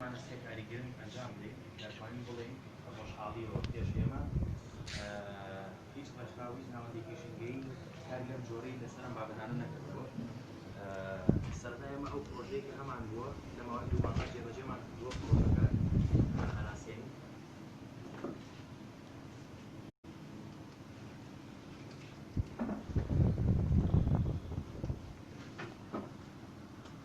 مامۆستای کاری گرنگ ئەنجام بدەین دەتوانین بڵێین بە خۆشحاڵیەوە پێش ئێمە هیچ ڕێکخراو هیچ ناوەندێکی ژینگەیی کاری لەم جۆرەی لەسەر ئەم بابەتانە نەکردووە سەرەتا ئێمە ئەو پرۆژەیە کە هەمان بووە لە ماوەی دوو مانگا جێبەجێمان کردووە پرۆژەکە هەناسێنی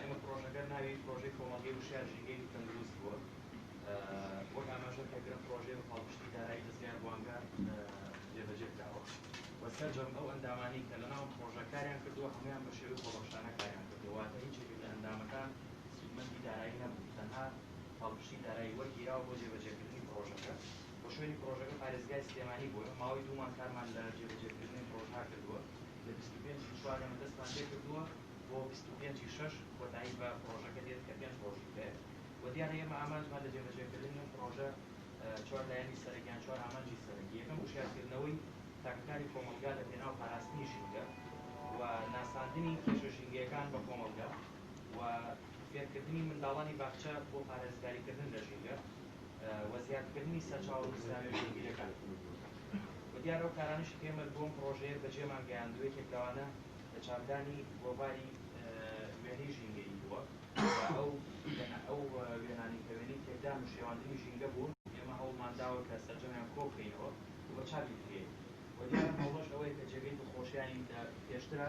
ئێمە پرۆژەکە ناوی پرۆژەی کۆمەڵگەی وشیار ژینگەی تەندروست بووە وەک ئاماژە پێکرا پرۆژەی بە پاڵپشتی دارایی دەزگای ڕوانگە جێبەجێ کراوە و سەرجەم ئەو ئەندامانی کە لەناو پرۆژە کاریان کردووە هەمویان بە شێوەی خۆبەخشانە کاریان کردووە واتە هیچ یەکێک لە ئەندامەکان سوودمەندی دارایی نەبوو تەنها پاڵپشتی دارایی وەرگیراوە بۆ جێبەجێکردنی پرۆژەکە و شوێنی پڕۆژەکە پارێزگای سلێمانی بووە، ماوەی دوو مانگ کارمان لە جێبەجێکردنی پڕۆژە کردووە، لە بیست و پێنج ی چوار ئێمە دەستمان پێکردووە و بیست و پێنج ی شەش کۆتایی بە پڕۆژەکە دێت کە پێنج ڕۆژی هەیە و دیارە ئێمە ئامانجمان لە جێبەجێکردنی ئەم پڕۆژە چوار لایەنی سەرەکی یان چوار ئامانجی سەرەکی یەکەم وشیارکردنەوەی تاکەکانی کۆمەڵگا لە پێناو پاراستنی ژینگە و ناساندنی کێشە ژینگەیەکان بە کۆمەڵگا و فێرکردنی منداڵانی باخچە بۆ پارێزگاریکردن لە ژینگە. و زیادکردنی سەرچاوە گوزراوی ژێربیرەکان و دیارە ئەو کارانەشی کە ئێمە بۆ ئەم پڕۆژەیە بەجێمان گەیاند و یەکێک لەوانە چاکدانی گۆڤاری وێنەی ژینگەیی بووە و ئەو ئەو وێنانەی کە وێنەی تێکدان و شێواندنی ژینگە بوون ئێمە هەوڵمان داوە کە سەرجەمیان کۆ بکەینەوە و بە چاپی بگەیەنین و دیارە ئەم هەوڵەش ئەوەیە کە جێگەی دڵخۆشیی لە پێشترە.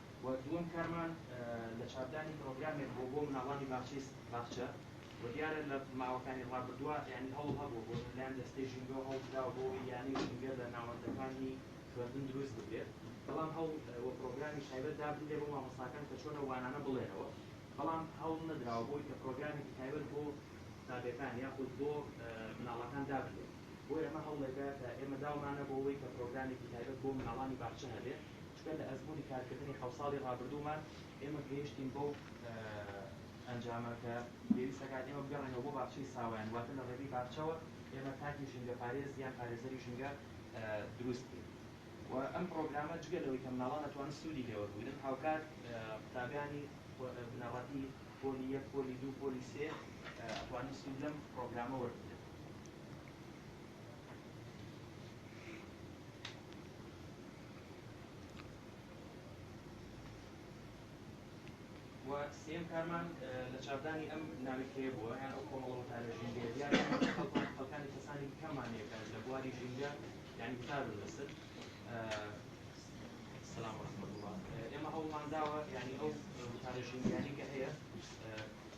و دووەم کارمان لە چاپدانی پرۆگرامێک بووە بۆ مناڵانی باخچەی باخچە و دیارە لە ماوەکانی ڕابردووە یانی هەوڵ هەبووە بۆ لەلایەن دەستەی ژینگەوە هەوڵ دراوە بۆ ئەوەی یانەی ژینگە لە ناوەندەکانی خوێندن دروست بکرێت بەڵام هەوڵ و پرۆگرامیش تایبەت دابنرێ بۆ مامۆستاکان کە چۆن ئەو وانانە بڵێنەوە بەڵام هەوڵ نەدراوە بۆ ئەوەی کە پرۆگرامێکی تایبەت بۆ قوتابیەکان یاخود بۆ مناڵەکان دابنرێت بۆیە ئەمە هەوڵێکە کە ئێمە داومانە بۆ ئەوەی کە پرۆگرامێکی تایبەت بۆ مناڵانی باخچە هەبێ. سپێن لە ئەزموونی کارکردنی حەوت ساڵی ڕابردوومان ئێمە گەیشتین بەو ئەنجامە کە پێویست ئەکات ئێمە بگەڕێینەوە بۆ باخچەی ساوایان واتە لە ڕێگەی باخچەوە ئێمە تاکی ژینگەپارێز یان پارێزەری ژینگە دروست بکەین و ئەم پڕۆگرامە جگە لەوەی کە مناڵان ئەتوانن سوودی لێ وەربگرن هاوکات قوتابیانی بنەڕەتی پۆلی یەک پۆلی دوو پۆلی سێ ئەتوانن سوود لەم پڕۆگرامە وەربگرن. و سێیەم کارمان لە چاپدانی ئەم ناویتکەیە بووە یان ئەو کۆمەڵە وتارە ژینگەیە دیارە ئێمە کە خەڵکمان خەڵکانی کەسانی دیکەمان هەیە کە لە بواری ژینگە یانی وتار و نەسر سلام ورحمة الله ئێمە هەوڵمان داوە یعنی ئەو وتارە ژینگەیانی کە هەیە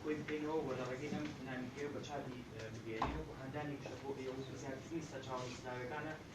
کۆی بکەینەوە و لە ڕێگەی ئەم نامیکەیە بە چاپی بگەیەنین و هاندانێکیشە بۆ ئێوە و زیادکردنی سەرچاوە نووسراوەکانە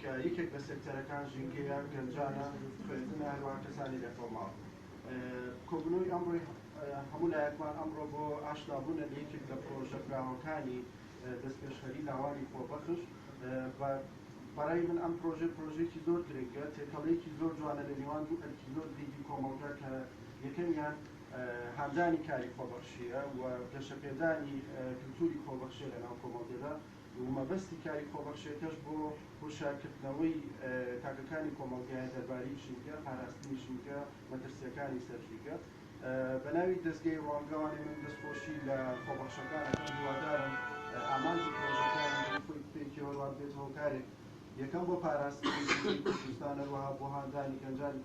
کە یەکێک لە سێکتەرەکان ژینگەیە، گەنجانە، خوێندنە، هەروەها کەسانی لەکۆڵناو. کۆبوونەوەی ئەمڕۆی هەموو لایەکمان ئەمڕۆ بۆ ئاشنابوونە لە یەکێک لە پڕۆژە براوەکانی دەستپێشخەری لاوانی خۆبەخش بە بەڕای من ئەم پڕۆژەی پڕۆژەیەکی زۆر گرنگە، تێکەڵەیەکی زۆر جوانە لە نێوان دوو ئەرکی زۆر گرنگی کۆمەڵگە کە یەکەمیان هاندانی کاری خۆبەخشییە و گەشەپێدانی کلتوری خۆبەخشییە لەناو کۆمەڵگەدا. و مەبەستی کاری خۆبەخشێکەش بۆ هوشارکردنەوەی تاکەکانی کۆمەڵگایە دەرباری ژینگە، پاراستنی ژینگە، مەترسیەکانی سەر ژینگە. بە ناوی دەزگای ڕوانگەوانی من دەست خۆشی لە خۆبەخشەکان ئەکەم هیوادارم ئامانج و پرۆژەکەیان بەبێ خۆی بپێکێ و ڕاببێت هۆکارێک یەکەم بۆ پاراستنی ژینگەی کوردستان هەروەها بۆ هاندانی گەنجانی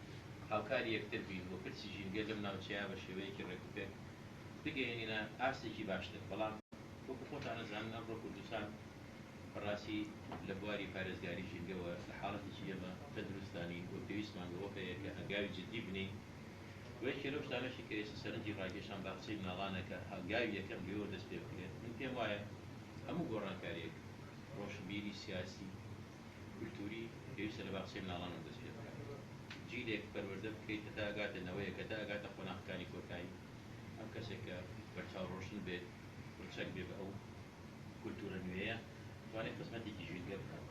هاوکاری یەکتر بین و پرسی ژینگە لەم ناوچەیە بە شێوەیەکی ڕێکوپێک بگەیەنینە ئاستێکی باشتر، بەڵام وەکو خۆتان ئەزانن ئەمڕۆ کوردستان بە ڕاستی لە بواری پارێزگاری ژینگەوە لە حاڵەتێکی ئێمە تەندروستدا نین و پێویستمان بەوە هەیە کە هەنگاوی جددی بنێین و یەکێ لەو شتانەشی کە ئێستا سەرنجی ڕاکێشام باخچەی مناڵانە کە هەنگاوی یەکەم لێوە دەست پێ بکرێت من پێم وایە هەموو گۆڕانکارییەک ڕۆشنبیری سیاسی کولتووری پێویستە لە باخچەی مناڵانەوە دەست پێ بکات جیلێک پەروەردە بکەیت هەتا ئەگاتە نەوەیەک هەتا ئەگاتە قۆناخەکانی کۆتایی ئەم کەسێک کە بەرچاو ڕۆشن بێت و چەک بێ بە ئەو کولتوورە نوێیە توانێت خزمەتێکی ژینگە بکات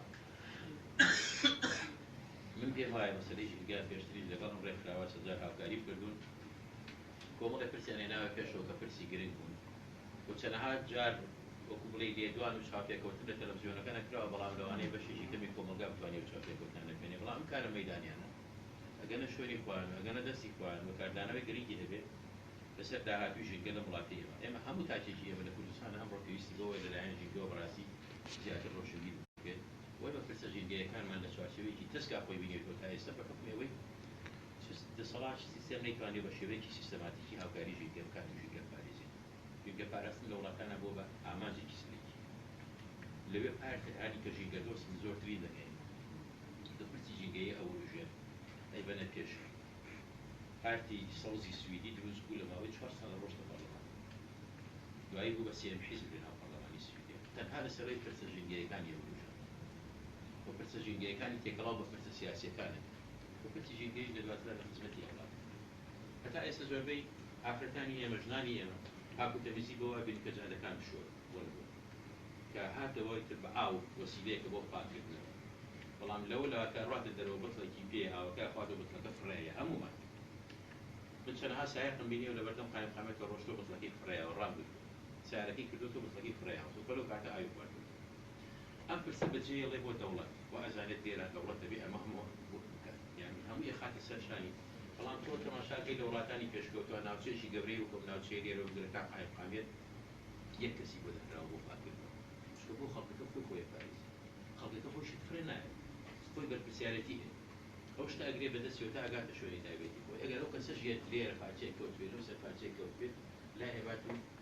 من پێم وایە مەسەلەی ژینگە پێشتریش لەگەڵ ئەم ڕێکخراوە چەند جار هاوکاریم کردوون کۆمەڵێ پرسیان هێناوە پێشەوە کە پرسی گرنگ بوون و چەنەها جار وەکو بڵێی لێدوان و چاوپێکەوتن لە تەلەفزیۆنەکە نەکراوە، بەڵام لەوانەیە بەشێکی کەمی کۆمەڵگا بتوانێ ئەو چاوپێکەوتنانە ببینێ، بەڵام ئەم کارە مەیدانیانە ئەگەنە شوێنی خۆیان و ئەگەنە دەستی خۆیان و کاردانەوەی گرنگی هەبێ لەسەر داهاتووی ژینگە لەم وڵاتەی ئێمە. ئێمە هەموو تاکێکی ئێمە لە کوردستان ئەمڕۆ پێویستی بەوەیە لەلایەن ژینگەوە بەڕاستی زیاتر ڕۆشنبیر بێت و ئێمە پرسە ژینگەیەکانمان لە چوارچێوەیەکی تەسکا خۆی بینێتەوە تا ئێستا بە حوکمی ئەوەی دەسەڵاتی سیستەم نەیتوانیوە بە شێوەیەکی سیستەماتیکی هاوکاری ژینگە بکات و ژینگە بپارێزێت. ژینگە پاراستن لە وڵاتانا بووە بە ئامانجێکی سەرەکی. لەوێ پار تر هانی کە ژینگە دۆست زۆر ترین دەکەین. لە پرسی ژینگەیی ئەوروژێن ئەیبەنە پێش. پارتی سەوزی سویدی دروست بوو لە ماوەی چوار ساڵ رۆشت لە پەرلەمان. دوایی بوو بە سێیەم حیزب لە ناو پەرلەمانی سویدە. تەنها لە سەرووی پرسە ژینگەیەکانی ئەوروژێن و پرسە ژینگەیەکانی تێکەڵاو بە پرسە سیاسیەکانن و پرسی ژینگەیش لە دواترا لە خزمەتی ئەودا بوو. هەتا ئێستا زۆربەی ئافرەتانی ئێمە، ژنانی ئێمە پاک و تەمیزی بەوە ئەبینن کە جادەکان بشۆن بۆ نموونە کە هات لەوەی تر بە ئاو وەسیلەیەکە بۆ پاک کردنەوە بەڵام لەوە لا کە ڕاتە دەرەوە بتڵێکی پێیە ئاوەکە ئەخواتەوە بتڵەکە فڕێیە هەموومان من چەنەها سایەقم بینیەوە لە بەردەم قایم قامەتەوە ڕۆشتوە بتڵەکەی فڕێیاوە ڕام گرتوە سارەکەی کردۆتەوە بتڵەکەی فڕێیاوە سوپە لەو کاتە ئاوی خواردۆتەوە. ئەم پرسە بە جێ یڵێ بۆ دەوڵەت وا ئەزانێت لێرە دەوڵەت دەبێ ئەمە هەموو بکات یانی هەموو ئەخاتە سەر شانی بەڵام تۆ تەماشا کەی لە وڵاتانی پێشکەوتوە ناوچەیەکی گەورەی وەکو ئەم ناوچەیە لێرەوە بگرە تا قایمقامیەت یەک کەسی بۆ دانراوە بۆ پاک کردنەوە چونکە بۆ خەڵکەکە خۆی خۆی ئەپارێزی خەڵکەکە خۆی شت فڕێ نایەت خۆی بەرپرسیارێتی هەیە ئەو شتە ئەگرێ بە دەستیەوە تا ئەگاتە شوێنی تایبەتی خۆی ئەگەر ئەو کەسەش یەت لێرە پارچەیەک کەوتبێ لەو سەر پارچەیەک کەوتبێت لای ئەبات و